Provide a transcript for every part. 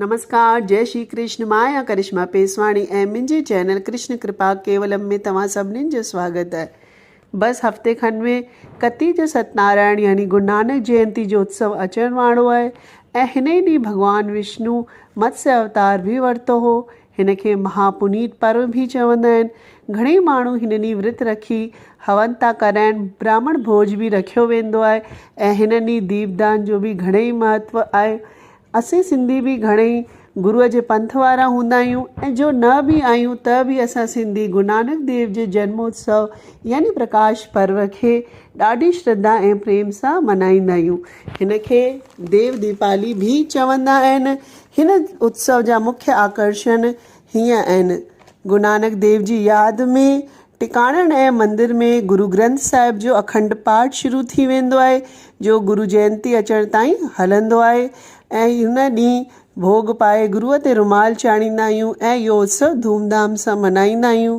نمسڪار جئي شري ڪرشن مان آهيان ڪرشما پيسواڻي ۽ منهنجي چينل ڪرشن ڪرپا ڪيولم ۾ توهان سڀنين جو سواگت اهي بس هفتي کن ۾ ڪتي جو ستنارائڻ يعني گرونانڪ جينتي جو اتسو اچڻ واڙو آهي ۽ هن ئي ڏينهن ڀڳوان وشنو متسي اوتار به ورتو هو هن کي مها پنيت پرو به چوندا آهن گهڻي ماڻهو هن ڏينهن ورت رکي هون ٿا ڪرائن براهمڻ ڀوج به رکيو ويندو آهي ۽ هن ڏينهن ديپ دان جو به گهڻي ئي مهتو آهي اسين سنڌي به گهڻئي گروء جي پنٿ وارا هوندا آهيون ۽ جو نه به آهيون ته به اسان سنڌي گرونانڪ ديو جي جنم اتسو يعني پرڪاش پرو کي ڏاڍي شرڌا ۽ پريم سان ملهائيندا آهيون. هن کي ديو ديپالي به چوندا آهن. هن اتسو جا مکيه آڪرشڻ هيئن ان گرونانڪ ديو جي ياد ۾ ٽڪاڻڻ ۽ مندر ۾ گرو گرنٿ صاحب جو اکنڊ پاٺ شروع ٿي ويندو آهي جو گرو جينتي اچڻ تائين هلندو آهي ۽ ان ڏينهن ڀوڳ پائي گروء تي رومال چاڙهيندا آهيون ۽ اهو اتسو ڌوم ڌام سان ملهائيندا آهيون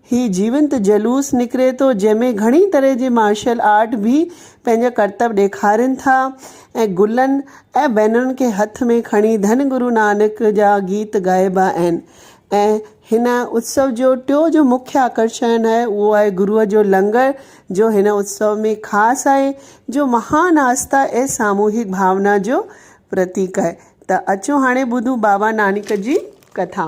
هي جيونت جلوس نڪري ٿو جنهن ۾ گهڻي طرح جي مارشل آرٽ به پنهنجا ڪرتب ڏيکارين ٿا ۽ گلن ۽ بينرن کي هٿ ۾ کڻي ڌن گرو نانڪ جا گيت ڳائبا آهن ۽ هن اتسو جو ٽيو جو مکيه آڪرشڻ آهي اهو آهي گروء جو لنگر جو هن اتسو ۾ خاص آهي جو مهان آسٿا ۽ ساموهڪ ڀاونا جو پرتيڪ آهي ته اچو هاڻي ٻڌون بابا نانڪ جي ڪٿا.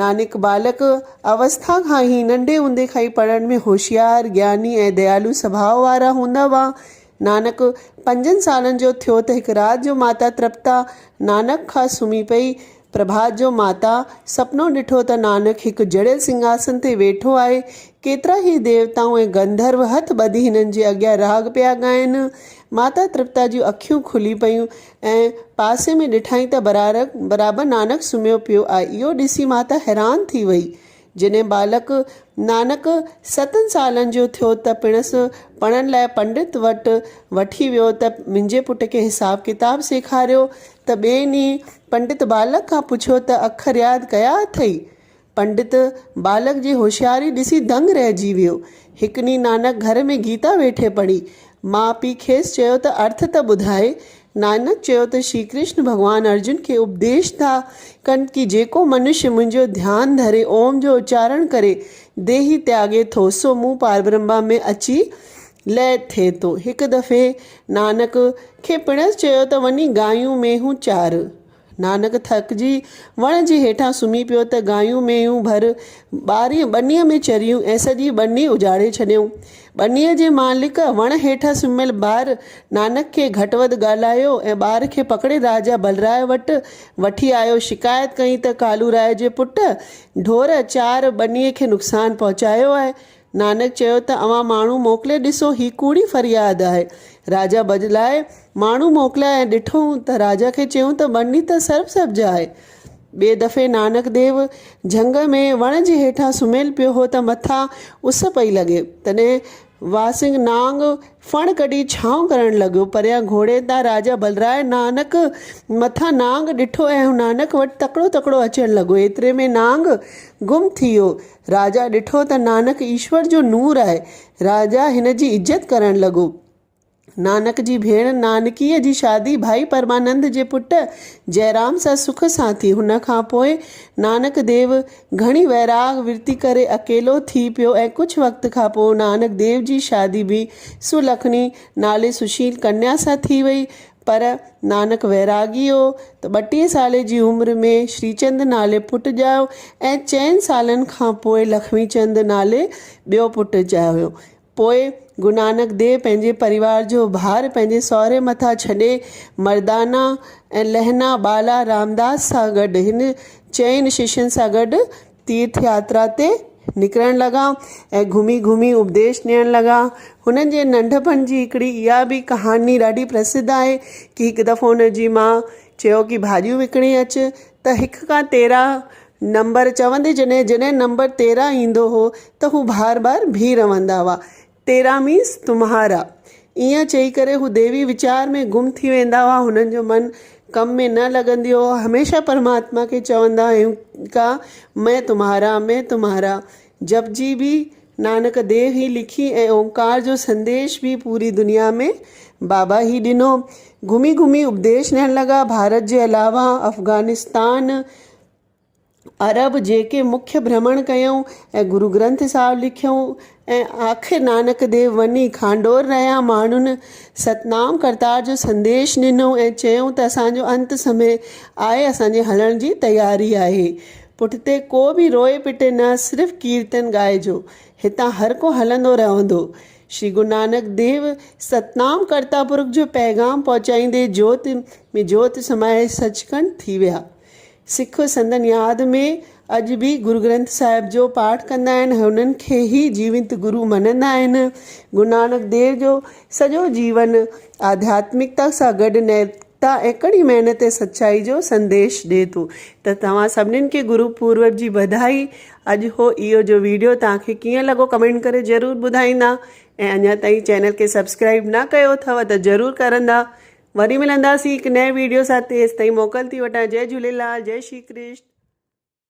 نانڪ ٻالڪ اوسٿا کان ئي، ننڍي هوندي کان ئي پڙهڻ ۾ هوشيار، گياني ۽ ديالو سڀاء وارا هوندا هئا. نانڪ پنجن سالن جو ٿيو ته هڪ رات جو ماتا ترپتا نانڪ کان سمهي پئي. پرڀات جو ماتا سپنو ڏٺو ته نانڪ هڪ جڙيل سنگهاسن تي ويٺو آهي. ڪيترا ئي ديوتائون ۽ گنڌرو هٿ ٻڌي هنن جي اڳيان راڳ پيا ڳائين. ماتا ترپتا جون اکيون کلي پيون ۽ پاسي ۾ ڏٺائين ته برارڪ برابر نانڪ سمهيو پيو آهي. اهو ڏسي ماتا حيران ٿي وئي. جڏهن ٻالڪ نانڪ ستن سالن جو ٿيو ته پڻس پڙهڻ لاء پنڊت وٽ وٺي ويو ته منهنجي پٽ کي حساب ڪتاب سيکاريو ته ٻئي ڏينهن پنڊت ٻالڪ کان پڇيو ته اکر ياد ڪيا اٿئي؟ پنڊت ٻالڪ جي هوشياري ڏسي دنگ رهجي ويو. هڪ ڏينهن نانڪ گهر ۾ گيتا ويٺي پڙهي. ماء پيء کيس چيو ته ارٿ ته ٻڌائي. نانڪ چيو ته شري ڪرشن ڀڳوان ارجن کي اپديش ٿا ڪن ڪي جيڪو منش منهنجو ڌيان ڌري اوم جو اچارڻ ڪري ديهي تياڳي ٿو سو مون پاربرهما ۾ اچي لئه ٿئي ٿو. هڪ دفعي نانڪ کي پڻس چيو ته وڃي گايون مينهون چار. نانڪ ٿڪجي وڻ جي هيٺان سمهي پيو ته گايون مينهون ڀر ٻاري ٻنيء ۾ چريون ۽ سڄي ٻني اجاڙي ڇڏيائون. ٻنيء جي مالڪ وڻ هيٺان سمهيل ٻار نانڪ کي گهٽ وڌ ڳالهايو ۽ ٻار کي پڪڙي راجا بلراء وٽ وٺي آيو. شڪايت ڪئين ته ڪالوراء جي پٽ ڍور چار ٻنيء کي نقصان پهچايو آهي. نانڪ چيو ته اوهان ماڻهو موڪلي ڏسو هي ڪوڙي فرياد آهي. راجا بدلائي ماڻهو موڪليا ۽ ڏٺئون ته راجا کي چيون ته ٻني ته سرب سبز آهي. ٻئي دفعي نانڪ ديو جهنگ ۾ وڻ جي هيٺان سمهيل پيو هو ته مٿان اس پئي لڳي. تڏهن واسنگ نانگ ڦڻ ڪڍي ڇانو ڪرڻ لڳو. پريان گهوڙي تان راجا بلراء نانڪ مٿان نانگ ڏٺو ۽ هو نانڪ وٽ تڪڙو تڪڙو اچڻ لڳو. ايتري ۾ نانگ گم ٿي ويو. راجا ڏٺو ته نانڪ ايشور جو نور آهي. راجا هن جي عزت ڪرڻ لڳو. نانڪ جي ڀيڻ نانڪيء جي شادي ڀائي پرمانند جي پٽ جئرام سان سک سان ٿي. هن کان پوء نانڪ ديو گهڻي ويراڳ ورتي ڪري اڪيلو ٿي پيو ۽ ڪجهه وقت کان پوء نانڪ ديو جي شادي به سلکڻي نالي سشيل ڪنيا سان ٿي وئي. پر نانڪ ويراڳي هو ته ٻٽيهين سالي جي عمر ۾ شريچند نالي پٽ ڄايو ۽ چئن سالن کان پوء لکمي چند نالي ٻيو پٽ ڄايو. پوء گرونانڪ ديو پنهنجي پريوار جو ڀار پنهنجي سهري مٿان ڇڏي مردانا ۽ لهنا ٻالا رامداس سان گڏ هن چئن ششين سان گڏ تيرٿ ياترا تي نڪرڻ لڳا ۽ گهمي گهمي اپديش ڏيڻ لڳا. هنن جي ننڍپڻ جي هڪڙي اها به ڪهاڻي ڏاڍي پرسڌ آهي ڪي هڪ دفعو هن جي ماء چيو ڪي ڀاڄيون وڪڻي اچ ته هڪ کان تيرهن نمبر چوندي جڏهن جڏهن نمبر تيرهن ايندو هو ته هو بار بار بيهي رهندا هئا. تيراميس تمهارا. ائين چئي ڪري هو ديوي ويچار ۾ گم ٿي ويندا هئا. هنن جو من ڪم ۾ نه لڳندي هو. هميشه پرماتما کي چوندا هيون ڪا مئن تمهارا، مئن تمهارا. جپ جي به نانڪ ديو هي لکي ۽ اومڪار جو سنديش به پوري دنيا ۾ بابا هي ڏنو. گهمي گهمي اپديش ڏيڻ لڳا. ڀارت جي علاوه افغانستان، عرب جيڪي مکيه ڀرمڻ ڪيائون ۽ گرو گرنٿ صاحب لکيائون ۽ آخر نانڪ ديو وڃي کانڊور رهيا ماڻهن ستنام ڪرتار جو سنديش ڏنو ۽ چيائون ته اسان جو انت سمي آهي اسان جي هلڻ جي تياري آهي پٺتي ڪو به روئي پٽي نه صرف ڪيرتن ڳائجو هتان هر ڪو هلندو رهندو شري گرو نانڪ ديو ستنام ڪرتا پرک جو پيغام پهچائيندي جوت ۾ جوت سمائي سچ کنڊ ٿي ويا. سک سندن ياد ۾ اڄ به گرگرنٿ صاحب جو پاٺ ڪندا آهن، هنن کي ئي جيونت گرو مڃندا آهن. گرونانڪ ديو جو سڄو جيون آڌياتمڪتا سان گڏ نيتڪتا ۽ ڪڙي محنت ۽ سچائي جو سنديش ڏئي ٿو ته توهان سڀنين کي گرو پورب جي وڌائي اڄ هو اهو جو ويڊيو توهان کي ڪيئن لڳو ڪمينٽ ڪري ضرور ٻڌائيندا ۽ اڃا تائين چينل کي سبسڪرائيب نه ڪيو اٿو ته ضرور ڪرندا وري ملنداسين هڪ نئين ويڊيو سان تيستائين موڪل ٿي وٺان جئي جهوليلال جئي شري ڪرشن.